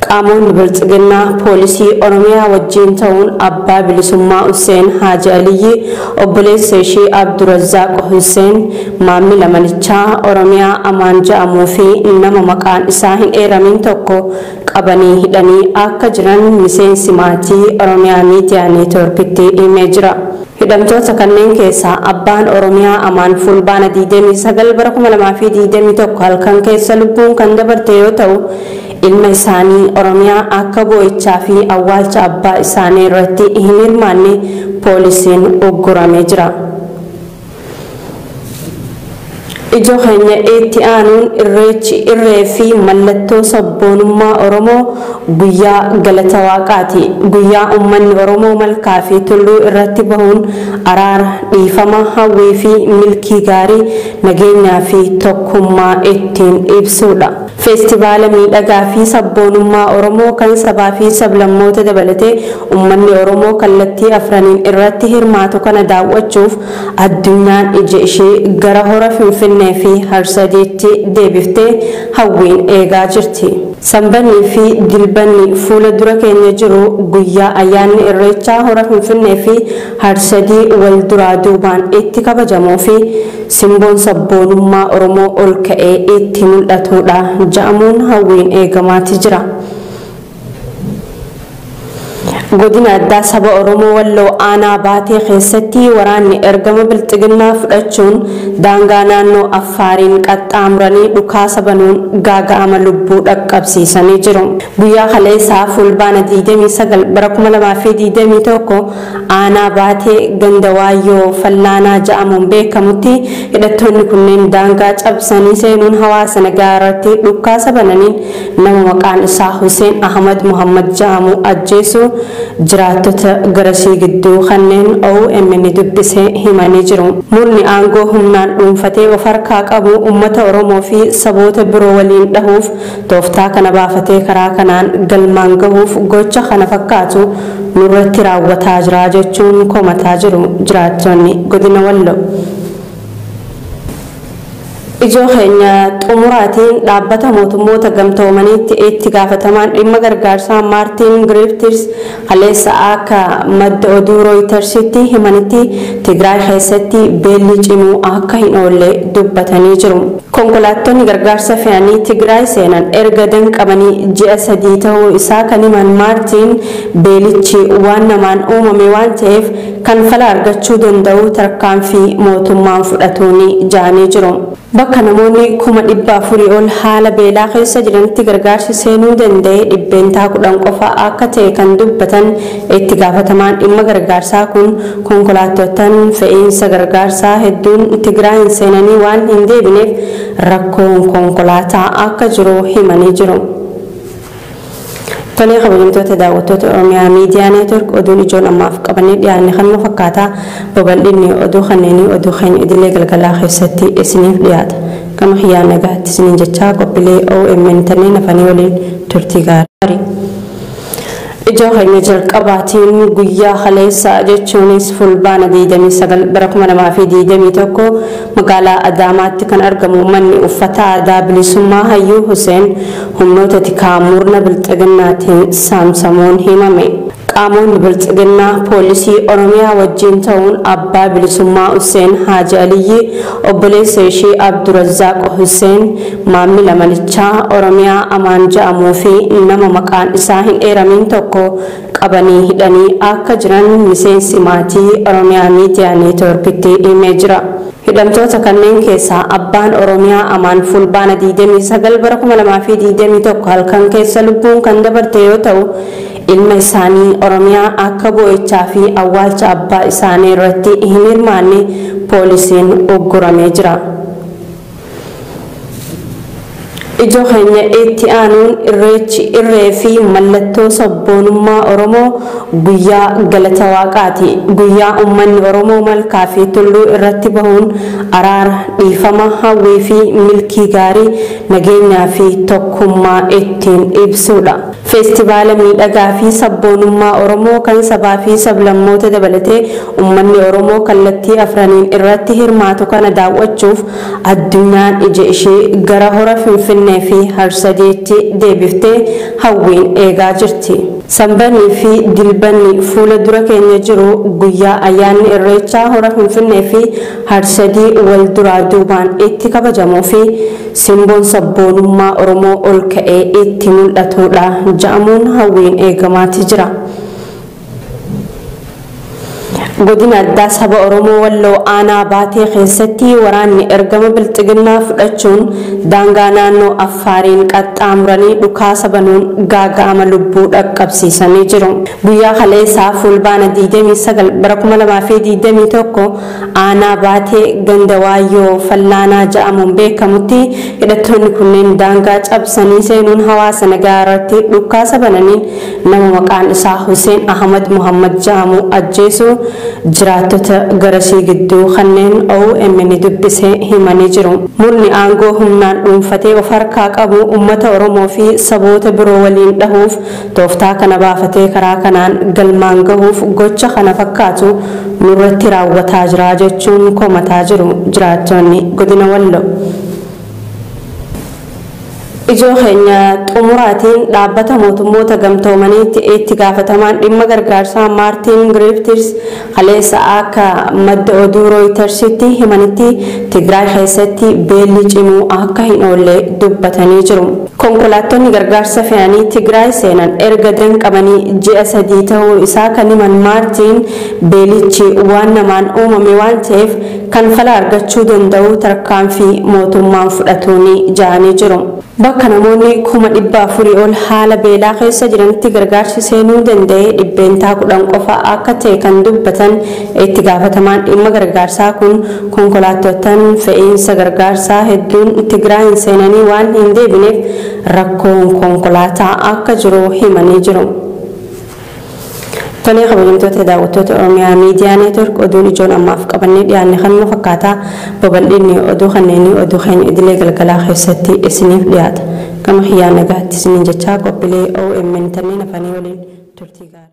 Qaamoonni Biltsiginnaa poolisii Oromiyaa wajjiin ta'uun abbaa Bilisummaa Husseen Haaji Aliyyi, obboleessa ishii Abdurazzaaq Husseen, maammila manichaa Oromiyaa Amaan ja'amuu fi nama maqaan isaa hin eeramiin tokko qabanii hidhanii akka jiran miseensi maatii Oromiyaa Miidiyaa Neetwoorkitti himee jira. Hidhamtoota kanneen keessaa abbaan Oromiyaa Amaan Fulbaana 29 bara 2021 halkan keessa lubbuun kan dabarte yoo ta'u, Ilma isaanii Oromiyaa akka boo'ichaa fi awwaalcha abbaa isaanii irratti hin hirmaanne poolisiin ugguramee jira. Ijoo keenya itti aanuun irreechi irree fi mallattoo sabboonummaa Oromoo guyyaa galata waaqaati. Guyyaa uummanni Oromoo malkaa fi tulluu irratti bahuun araara, dhiifama, hawwii fi milkii gaarii, nageenyaa fi tokkummaa ittiin ibsuudha. Feestivaala miidhagaa fi sabboonummaa Oromoo kan sabaa fi sablammoota dabalatee ummanni Oromoo kallattii afraniin irratti hirmaatu kana daawwachuuf addunyaan ija ishee gara Hora Finfinnee fi Harsadiitti deebiftee hawwiin eegaa jirti. Sambannii fi Dilbanni fuula dura keenya jiru guyyaa ayyaanni Irreechaa Hora Finfinnee fi Harsadii wal duraa duubaan itti kabajamuu fi simboon sabboonummaa Oromoo ol ka'ee itti mul'atuudha ja'amuun hawwiin eegamaati jira. Godina Addaa Saba Oromoo Walloo Aanaa Baatee keessatti waraanni ergama Bilxiginnaa fudhachuun daangaa naannoo Affaariin qaxxaamuranii dhukaasa banuun gaaga'ama lubbuu dhaqqabsiisanii jiru. Guyyaa kaleessaa Fulbaana 29 bara 2021 Aanaa Baatee ganda Waayyoo Fallaanaa ja'amuun beekamutti hidhattoonni kunneen daangaa cabsanii seenuun hawaasa nagaa irratti dhukkaasa bananiin nama maqaan isaa Huseen Ahmad Muhammad ja'amu ajjeesuu jiraattota garasii gidduu kanneen omn dubbise himanii jiru. Murni aangoo humnaan dhuunfatee of harkaa qabu ummata Oromoo fi saboota biroo waliin dhahuuf Tooftaa kana baafatee karaa kanaan galmaan gahuuf gocha kana fakkaatu nurratti raawwataa jira jechuun komataa jiru jiraattonni Godina Walloo. Ijoo keenya xumuraatiin Dhaabbata Mootummoota Gamtoomaniitti Itti Gaafatamaan Dhimma Gargaarsaa Maartiin Giriiftiis Kaleessa akka madda oduu Rooyitarsitti himanitti Tigraay keessatti beelli cimuu akka hin oolle dubbatanii jiru. Konkolaattonni gargaarsa fe'anii Tigraay seenan erga danqamanii ji'a sadii ta'uu isaa kan himan Maartiin, beelichi waan namaan uumame waan ta'eef kan fala argachuu danda'u tarkaanfii mootummaan fudhatuuni ja'anii jiru. Bakka namoonni kuma dhibba afurii ol haala beelaa keessa jiranitti gargaarsi seenuu danda'e dhibbeentaa kudhan qofa akka ta'e kan dubbatan itti gaafatamaan dhimma gargaarsaa kun, konkolaattoottan fe'iinsa gargaarsaa hedduun Tigraayiin seenanii waan hin deebineef rakkoon konkolaataa akka jiru himanii jiru. Tolee kabajamtoota daawwattoota Oromiyaa Miidiyaa Neetwork oduun ijoon ammaaf qabannee dhiyaanne kanuma fakkaata. Babaldhinni oduu kanneenii oduu keenya idilee galgalaa keessatti isiniif dhiyaata. Gama kiyyaan nagaatti isiniin jechaa qophilee omn tanneen hafanii waliin turtii gaarii. Ijoo keenya jalqabaatiin guyyaa kaleessaa jechuunis Fulbaana 29 bara 2021 magaalaa Adaamaatti kan argamu manni uffataa Aadaa Bilisummaa Hayyuu Huseen Humnoota tikaa murna bilxiginnaatiin saamsamuun himame. Qaamoonni bilxiginnaa poolisii Oromiyaa wajjiin ta'uun abbaa bilisummaa Husseen Haaji Aliyyii, obboleessa ishii Abdurazzaaq Husseen, maammila manichaa Oromiyaa Amaan ja'amuu fi nama maqaan isaa hin eeramiin tokko qabanii hidhanii akka jiran miseensi maatii Oromiyaa Miidiyaa Neetwoorkitti himee jira. Hidhamtoota kanneen keessaa abbaan Oromiyaa Amaan Fulbaana 29 bara 2021 halkan keessa lubbuun kan dabarte yoo ta'u, ilma isaanii Oromiyaa akka boo'ichaa fi awwaalcha abbaa isaanii irratti hin hirmaanne poolisiin ugguramee jira. Ijoo keenya itti aanuun Irreechi irree fi mallattoo sabboonummaa Oromoo guyyaa galata waaqaati. Guyyaa ummanni Oromoo malkaa fi tulluu irratti bahuun araara, dhiifama, hawwii fi milkii gaarii, nageenyaa fi tokkummaa ittiin ibsuudha. Feestivaala miidhagaa fi sabboonummaa Oromoo kan sabaa fi sablammoota dabalatee ummanni Oromoo kallattii afraniin irratti hirmaatu kana daawwachuuf addunyaan ija ishee gara Hora Finfinnee fi Harsadeetti deebiftee hawwiin eegaa jirti. Sambanii fi Dilbanni fuula dura keenya jiru guyyaa ayyaanni Irreechaa Hora Finfinnee fi Harsadii wal duraa duubaan itti kabajamuu fi Simboon sabboonummaa Oromoo ol ka'ee itti mul'atuudha ja'amuun hawwiin eegamaati jira. Godina addaa saba Oromoo Walloo Aanaa Baatee keessatti waraanni ergama Bilxiginnaa fudhachuun daangaa naannoo Affaariin qaxxaamuranii dhukaasa banuun gaaga'ama lubbuu dhaqqabsiisanii jiru. Guyyaa kaleessaa Fulbaana 29 bara 2021 Aanaa Baatee ganda Waayyoo Fallaanaa ja'amuun beekamutti hidhattoonni kunneen daangaa cabsanii seenuun hawaasa nagaa irratti dhukkaasa bananiin nama maqaan isaa Huseen Ahmad Muhammad ja'amu ajjeesuu jiraattota garasii gidduu kanneen omn dubbise himanii jiru. Murni aangoo humnaan dhuunfatee of harkaa qabu ummata Oromoo fi saboota biroo waliin dhahuuf Tooftaa kana baafatee karaa kanaan galmaan gahuuf gocha kana fakkaatu nurratti raawwataa jira jechuun komataa jiru jiraattoonni Godina Walloo. Ijoo keenya xumuraatiin Dhaabbata Mootummoota Gamtoomaniitti Itti Gaafatamaan Dhimma Gargaarsaa Maartiin Griiftiis, Kaleessa akka madda oduu Rooyitarsitti himanitti Tigraay keessatti beelli cimuu akka hin oolle dubbatanii jiru. Konkolaattonni gargaarsa fe'anii Tigraay seenan erga danqamanii ji'a sadii ta'uu isaa kan himan Maartiin, beelichi waan namaan uumame waan ta'eef kan fala argachuu danda'u tarkaanfii mootummaan fudhatuuni ja'anii jiru. Bakka namoonni kuma 400 ol haala beelaa keessa jiranitti gargaarsi seenuu danda'e dhibbeentaa 10 qofa akka ta'e kan dubbatan itti gaafatamaan dhimma gargaarsaa kun, konkolaattoottan fe'iinsa gargaarsaa hedduun Tigraayiin seenanii waan hin deebineef rakkoon konkolaataa akka jiru himanii jiru. Tolee kabajamtoota daawwattoota Oromiyaa Miidiyaa Neetwork oduun ijoon ammaaf qabannee dhiyaanne kanuma fakkaata. Babal'inni oduu kanneenii oduu keenya idilee galgalaa keessatti isiniif dhiyaata. Gama kiyyaan nagaatti isiniin jechaa qophiilee omn tanneen hafanii waliin turtii gaarii.